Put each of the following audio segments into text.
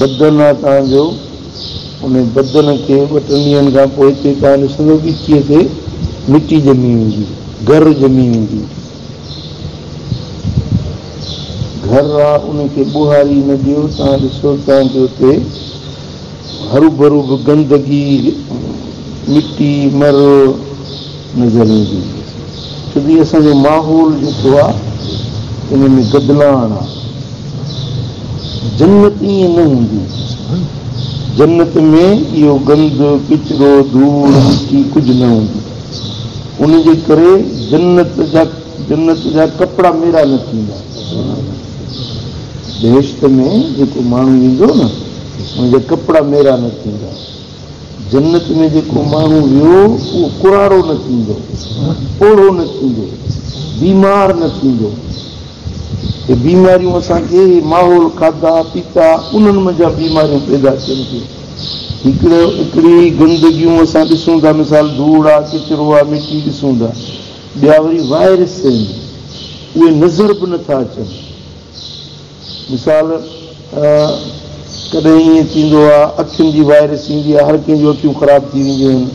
بدن آ توهان جو، ان بدن کي ٻه ٽن ڏينهن کان پوء هتي توهان ڏسندو ڳچيء تي مٽي ڄمي ويندي، گهر ڄمي ويندي. گهر آ، ان کي ٻوهاري نه ڏيو، توهان ڏسو توهان کي اتي هروڀرو به گندگي، مٽي، مر، نظر ايندي هئي ڇو جو هي اسان جو ماحول جيڪو آ ان ۾ گدلاڻ آ جنت ائين نه هوندي جنت ۾ اهو گند ڪچرو ڌوڙ مٽي ڪجهه نه هوندي ان جي ڪري جنت جا جنت جا ڪپڙا ميرا نه ٿيندا بهشت ۾ جيڪو ماڻهو ويندو نه ان جا ڪپڙا ميرا نه ٿيندا. جنت ۾ جيڪو ماڻهو ويو، اهو ڪراڙو نه ٿيندو، پوڙهو نه ٿيندو، بيمار نه ٿيندو. هي بيماريون اسان کي هي ماحول، کاڌا پيتا، انهن منجهان بيماريون پيدا ٿين ٿيون. هڪڙي هڪڙي گندگيون اسان ڏسون ٿا، مثال ڌوڙ آ، ڪچرو آ، مٽي ڏسون ٿا. ٻيا وري وائرس آهن، اهي نظر به نه ٿا اچن. مثال، ڪڏهن ائين ٿيندو آ، اکين جي وائرس ايندي آ، هر ڪنهن جون اکيون خراب ٿي وينديون آهن.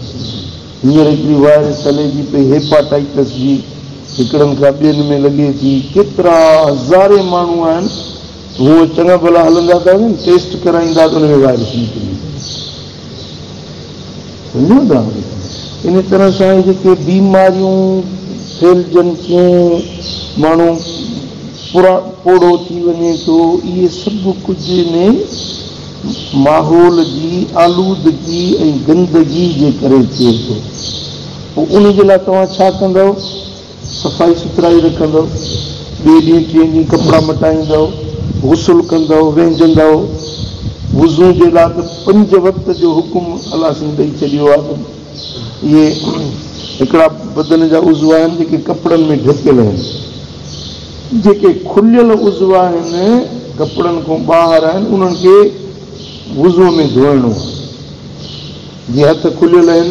هينئر هڪڙي وائرس هلي جي پئي هيپاٽائيٽس جي، هڪڙن کان ٻين ۾ لڳي ٿي، ڪيترا هزارين ماڻهو آهن، هونء چڱا ڀلا هلندا ته آهن، ٽيسٽ ڪرائيندا ته ان ۾ وائرس نڪري ويندو آهي. انهيء طرح سان اهي جيڪي بيماريون ڦهلجن ٿيون، ماڻهو پوڙهو ٿي وڃي ٿو، اهي سڀ ڪجهه انهيء ماحول جي آلودگي ۽ گندگي جي ڪري ٿئي ٿو. پوء انهيء جي لاء توهان ڇا ڪندؤ؟ صفائي سٿرائي رکندؤ، ٻئي ڏينهن ٽئين ڏينهن ڪپڙا مٽائيندؤ، غسل ڪندؤ، وهنجندؤ، وضو جي لاء ته پنج وقت جو حڪم الله سائين ڏئي ڇڏيو آهي ته اهي هڪڙا بدن جا عضو آهن جيڪي ڪپڙن ۾ ڍڪيل آهن، جيڪي کليل عضو آهن ڪپڙن کان ٻاهر آهن انهن کي وضو ۾ ڌوئڻو آهي، جي هٿ کليل آهن.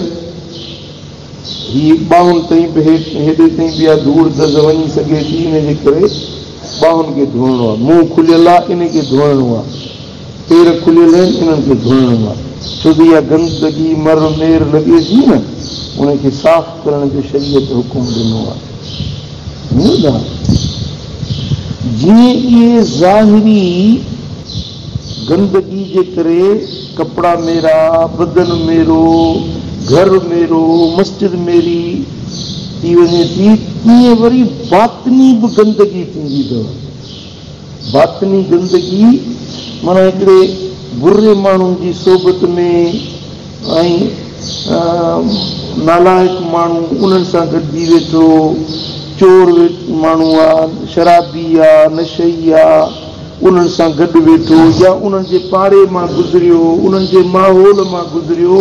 هي ٻانهن تائين به هيٺ ۽ هيڏي تائين به اها ڌوڙ دز وڃي سگهي ٿي ان جي ڪري ٻانهن کي ڌوئڻو آهي. منهن کليل آهي ان کي ڌوئڻو آهي. پير کليل آهن انهن کي ڌوئڻو آهي. ڇو ته اها گندگي، مر، مير لڳي ٿي نه ان کي صاف ڪرڻ جو شريعت حڪم ڏنو آهي. سمجهيو ٿا؟ جيئن اهي ظاهري. گندگي جي ڪري ڪپڙا ميرا، بدن ميرو، گهر ميرو، مسجد ميري ٿي وڃي ٿي تيئن وري باطني به گندگي ٿيندي اٿو. باطني گندگي معنيٰ هڪڙي بري ماڻهو جي صحبت ۾ ۽ نالائق ماڻهو انهن سان گڏجي ويٺو، چور ماڻهو آ، شرابي آ، نشئي آ، انهن سان گڏ ويٺو يا انهن جي پاڙي مان گذريو، انهن جي ماحول مان گذريو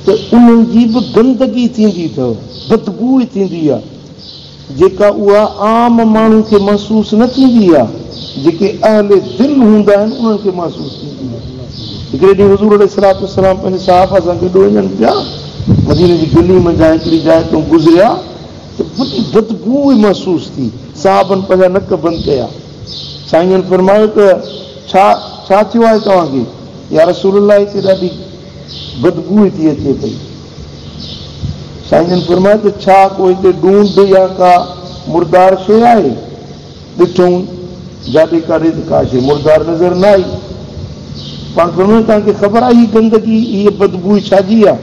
ته انهن جي به گندگي ٿيندي اٿئو، بدبوء ٿيندي آهي، جيڪا اها عام ماڻهو کي محسوس نه ٿيندي آهي، جيڪي اهل دل هوندا آهن انهن کي محسوس ٿيندي آهي. هڪڙي ڏينهن حضور عليه الصلوة والسلام پنهنجي صحابه سان گڏ وڃن پيا، مديني جي گلي منجهان هڪڙي جاء تان گذريا ته وڏي بدبوء محسوس ٿي، صحابن پنهنجا نڪ بند ڪيا. سائين جن فرمايو ته ڇا ڇا ٿيو آهي توهان کي؟ يا رسول الله هتي ڏاڍي بدبوء ٿي اچي پئي. سائين جن فرمايو ته ڇا ڪو هتي ڏونڊ يا ڪا مردار شيء آهي؟ ڏٺئون جاڏي ڪاڏي ته ڪا شيء مردار نظر نه آئي. پاڻ فرمايو توهان کي خبر آهي هي گندگي هيء بدبوء ڇا جي آهي؟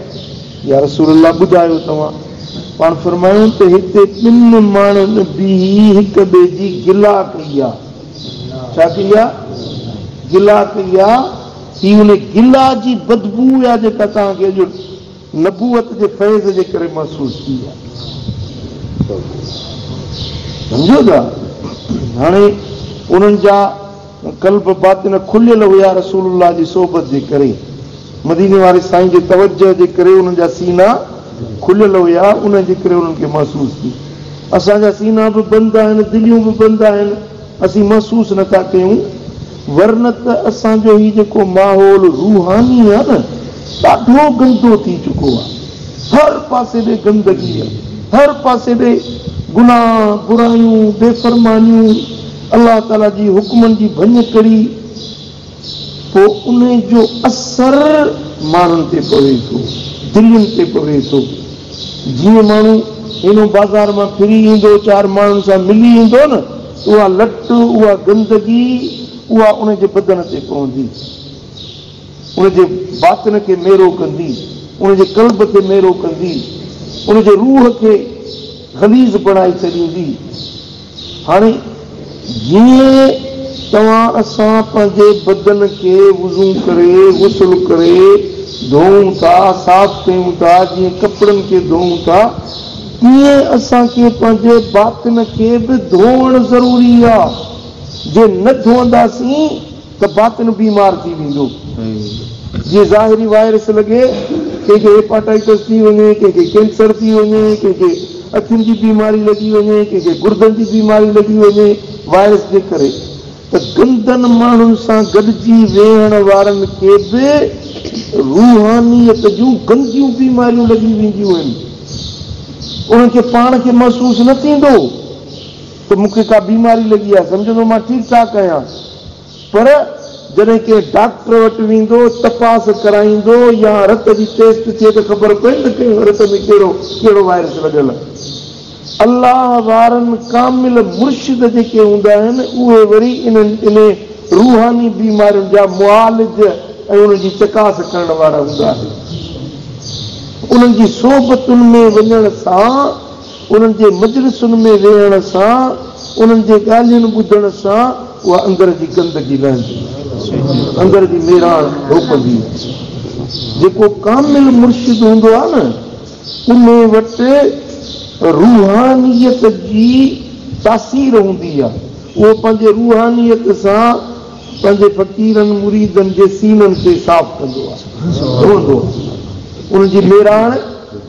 يا رسول الله ٻڌايو توهان پاڻ فرمايون ته هتي ٻن ماڻهن بيهي هڪ ٻئي جي گلا ڪئي آ ڇا ڪئي آ گلا ڪئي آ هي ان گلا جي بدبوء آ جيڪا توهان کي اڄ نبوت جي فيض جي ڪري محسوس ٿي آ سمجهيو ٿا هاڻي انهن جا قلب باطن کليل هيا رسول الله جي صحبت جي ڪري مديني واري سائين جي توجه جي ڪري انهن جا سينا کليل هيا انهي جي ڪري انهن کي محسوس ٿي اسان جا سينا به بند آهن دليون به بند آهن اسين محسوس نه ٿا ڪيون ورنه ته اسان جو هي جيڪو ماحول روحاني آهي نه ڏاڍو گندو ٿي چڪو آهي هر پاسي ڏي گندگي آهي هر پاسي ڏي گناهه برايون بي فرمانيون الله تعاليٰ جي حڪمن جي ڀڃ ڪري پوء ان جو اثر ماڻهن تي پوي ٿو، دلين تي پوي ٿو. جيئن ماڻهو هينو بازار مان ڦري ايندو، چار ماڻهن سان ملي ايندو نه ته اها لٽ، اها گندگي، اها ان جي بدن تي پوندي، ان جي باطن کي ميرو ڪندي، ان جي قلب کي ميرو ڪندي، ان جي روح کي غليظ بڻائي ڇڏيندي. هاڻي جيئن توهان اسان پنهنجي بدن کي وضو ڪري، غسل ڪري، ڌوئون ٿا، صاف ڪيون ٿا، جيئن ڪپڙن کي ڌوئون ٿا، تيئن اسان کي پنهنجي باطن کي به ڌوئڻ ضروري آهي. جي نه ڌوئنداسين. ته باطن بيمار ٿي ويندو جيئن ظاهري وائرس لڳي ڪنهن کي هيپاٽائيٽس ٿي وڃي ڪنهن کي ڪينسر ٿي وڃي ڪنهن کي اکين جي بيماري لڳي وڃي ڪنهن کي گردن جي بيماري لڳي وڃي وائرس جي ڪري ته گندن ماڻهن سان گڏجي ويهڻ وارن کي به روحانيت جون گنديون بيماريون لڳي وينديون آهن انهن کي پاڻ کي محسوس نه ٿيندو ته مون کي ڪا بيماري لڳي آهي سمجهندو مان ٺيڪ ٺاڪ آهيان. پر جڏهن ڪنهن ڊاڪٽر وٽ ويندو، تپاس ڪرائيندو يا رت جي ٽيسٽ ٿئي ته خبر پوندي ڪنهن رت ۾ ڪهڙو ڪهڙو وائرس لڳل آهي. الله وارن ڪامل مرشد جيڪي هوندا آهن اهي وري انهن انهي روحاني بيمارين جا معالج ۽ انهن جي چڪاس ڪرڻ وارا هوندا آهن. انهن جي صحبتن ۾ وڃڻ سان انهن جي مجلسن ۾ ويهڻ سان، انهن جي ڳالهين ٻڌڻ سان اها اندر جي گندگي لهندي، اندر جي ميراڻ ڌوپندي. جيڪو ڪامل مرشد هوندو آهي نه، انهي وٽ روحانيت جي تاثير هوندي آهي. اهو پنهنجي روحانيت سان پنهنجي فقيرن مريدن جي سينن کي صاف ڪندو آهي، ڌوئندو آهي. انهن جي ميراڻ.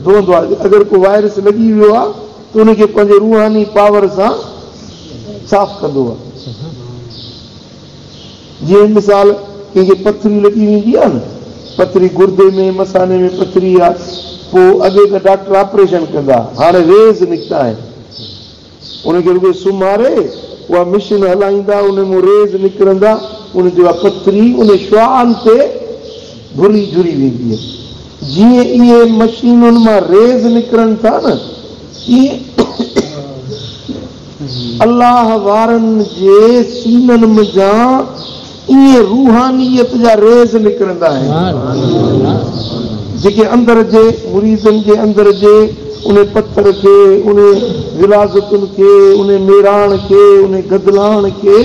رهندو آهي ته اگر ڪو وائرس لڳي ويو آهي ته ان کي پنهنجي روحاني پاور سان صاف ڪندو آهي جيئن مثال ڪنهن کي پٿري لڳي ويندي آهي نه پٿري گردي ۾ مثاني ۾ پٿري آهي پوء اڳي ته ڊاڪٽر آپريشن ڪندا هاڻي ريز نڪتا آهن ان کي رڳو سمهاري اها مشين هلائيندا، ان مان ريز نڪرندا، ان تي اها پٿري ان شعاعن تي گهري جهري ويندي ۽ جيئن اهي مشينن مان ريز نڪرن ٿا نه تيئن الله وارن جي سينن منجهان ائين روحانيت جا ريز نڪرندا آهن جيڪي اندر جي مريدن جي اندر جي ان پٿر کي، ان غلاظتن کي، ان ميراڻ کي، ان گدلاڻ کي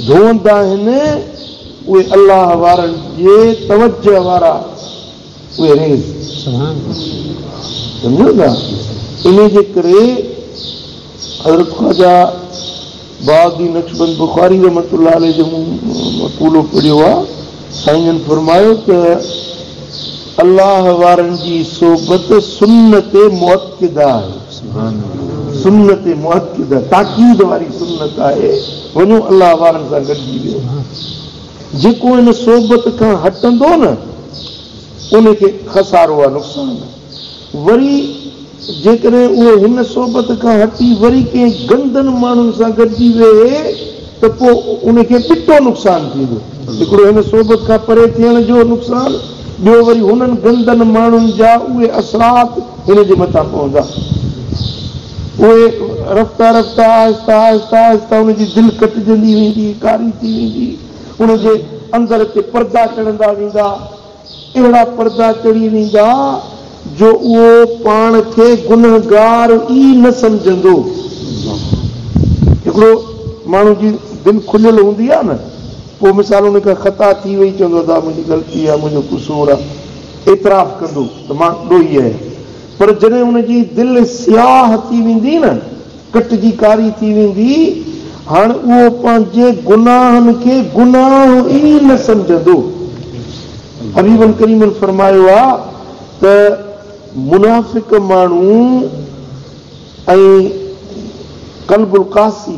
ڌوندا آهن. اهي الله وارن جي توجهه وارا انهيء جي ڪري حضرت خواجه بهاء الدين نقشبند بخاري رحمة الله عليه جو مون مقولو پڙهيو آ، سائين جن فرمايو ته، الله وارن جي صحبت سنت مؤڪده آهي، سنت مؤڪده، تاڪيد واري سنت آهي، وڃو الله وارن سان گڏجي ويهو. جيڪو ان صحبت کان هٽندو نه ان کي خسارو آ نقصان. وري جيڪڏهن اهو هن صحبت کان هٽي وري ڪنهن گندن ماڻهن سان گڏجي ويهي ته پوء ان کي ٻٽو نقصان ٿيندو. هڪڙو هن صحبت کان پري ٿيڻ جو نقصان، ٻيو وري هنن گندن ماڻهن جا اهي اثرات هن جي مٿان پوندا. اهي رفته رفته آهستي آهستي آهستي ان جي دل ڪٽجندي ويندي، ڪاري ٿي ويندي، ان جي اندر تي پردا چڙهندا ويندا، اهڙا پردا چڙهي ويندا جو اهو پاڻ کي گنهگار ئي نه سمجهندو. هڪڙو ماڻهو جي دل کليل هوندي آهي نه، پوء مثال ان کان خطا ٿي وئي، چوندو ادا منهنجي غلطي آهي، منهنجو قصور آهي، اعتراف ڪندو ته مان ڏوهي آهيان، پر جڏهن ان جي دل سياهه ٿي ويندي نه، ڪٽجي ڪاري ٿي ويندي، هاڻ اهو پنهنجي گناهن کي گناهه ئي نه سمجهندو. حبيبن ڪريمن فرمايو آهي ته منافق ماڻهو ۽ قلب القاسي،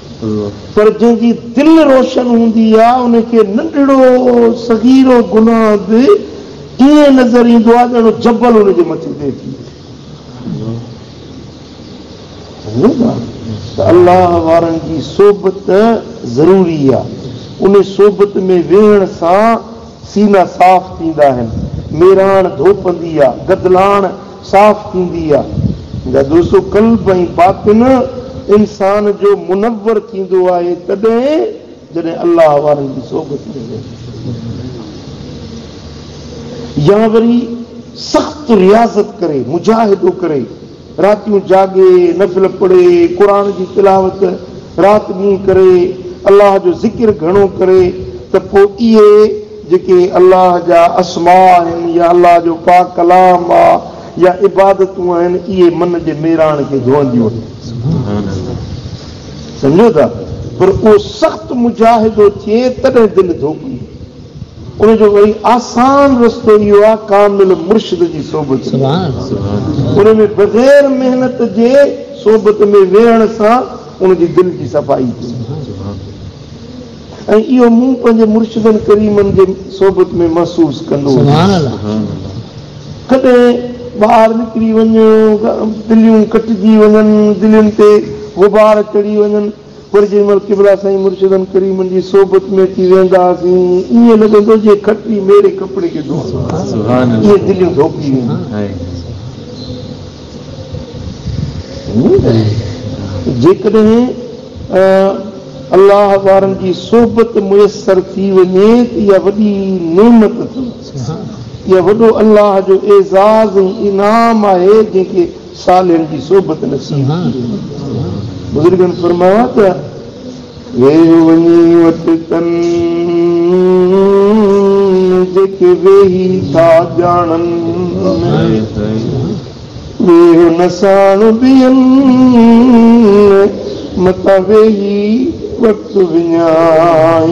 پر جنهن جي دل روشن هوندي آ ان کي ننڍڙو صغيرو گناهه به ائين نظر ايندو آ ڄڻ جبل ان جي مٿي تي اچي ويهي ٿو. ته الله وارن جي صحبت ضروري آ. ان صحبت ۾ ويهڻ سان سينا صاف ٿيندا آهن. ميراڻ ڌوپندي آ. گدلاڻ صاف ٿيندي آ. جا دوستو قلب ۽ باطن انسان جو منور ٿيندو آهي تڏهن جڏهن الله وارن جي صحبت ۾ ويهندو آهي يا وري سخت رياضت ڪري مجاهدو ڪري. راتيون جاڳي، نفل پڙهي، قرآن جي تلاوت رات ڏينهن ڪري، الله جو ذڪر گهڻو ڪري ته پوء اهي جيڪي الله جا اسماء آهن يا الله جو پاڪ ڪلام آ يا عبادتون آهن اهي من جي ميراڻ کي ڌوئنديون آهن. سمجهو ٿا؟ پر اهو سخت مجاهدو ٿئي تڏهن دل ڌوپي. ان جو ۽ آسان رستو اهو آهي ڪامل مرشد جي صحبت ۾، ان ۾ بغير محنت جي صحبت ۾ ويهڻ سان ان جي دل جي صفائي ٿئي ٿي ۽ اهو مون پنهنجي مرشدن ڪريمن جي صحبت ۾ محسوس ڪندو هوس. ڪڏهن ٻاهر نڪري وڃ، تليون ڪٽجي وڃن، دلين تي غبار چڙهي وڃن، وري جنهن مهل قبلا سائين مرشدن ڪريمن جي صحبت ۾ اچي ويهندا هئاسين ائين لڳندو جيئن کٽي ميري ڪپڙي کي ڌوئڻ لاء جيئن دليون ڌوپي وينديون جيڪڏهن الله وارن جي صحبت ميسر ٿي وڃي ته اها وڏي نعمت اٿم اها وڏو الله جو اعزاز ۽ انعام آهي جنهن کي صالحن جي صحبت نصيب ٿي وڃي. بزرگن فرمايو آهي ته، ويهه وڃي وٽ تن جيڪي ويهي ٿا ڄاڻن ۾، ويهه نه ساڻ ٻين ۾، متان ويهي وٽ وڃائين.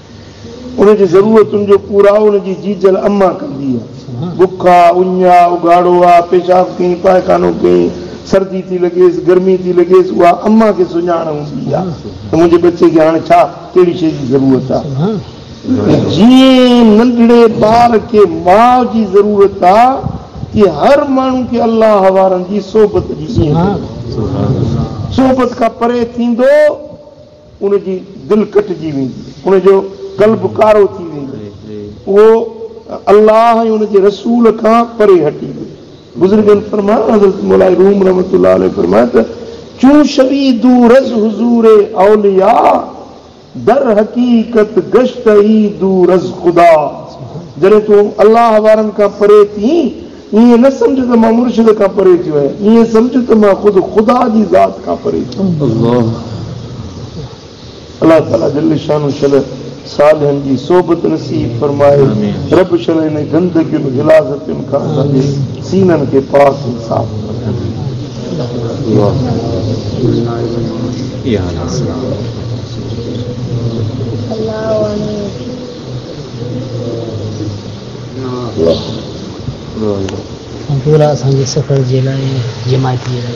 ان جي ضرورتن جو پورائو ان جي جيجل اما ڪندي آ. بک آ، اڃ آ، اگهاڙو آ، پيشاب ڪئين، پائخانو ڪئين، سردي ٿي لڳيس، گرمي ٿي لڳيس، اها اما کي سڃاڻ هوندي آ ته منهنجي ٻچي کي هاڻي ڇا ڪهڙي شيء جي ضرورت آ. جيئن ننڍڙي ٻار کي ماء جي ضرورت آ، تيئن هر ماڻهو کي الله وارن جي صحبت جي ائين ضرورت آ. صحبت کان پري ٿيندو. ان جي دل ڪٽجي ويندي، ان جو قلب ڪارو ٿي ويندو، اهو الله ۽ ان جي رسول کان پري هٽي ويو. بزرگن فرمايو، حضرت مولائي روم رحمة الله عليه فرمايو ته، چون شوي دورز حضور اولياء، در حقيقت گشته اي دورز خدا. جڏهن تون الله وارن کان پري ٿئين ائين نه سمجهه ته مان مرشد کان پري ٿيو آهيان، ائين سمجهه ته مان خود خدا جي ذات کان پري ٿيو آهيان. الله تعاليٰ جل شانه شل صالحن جي صحبت نصيب فرمائي، رب شل انهن گندگين غلاظتين کان اسان جي سينن کي پاڪ ۽ صاف فرمائي. ڀولا اسان جي سفر جي لاء جماعتي آهي.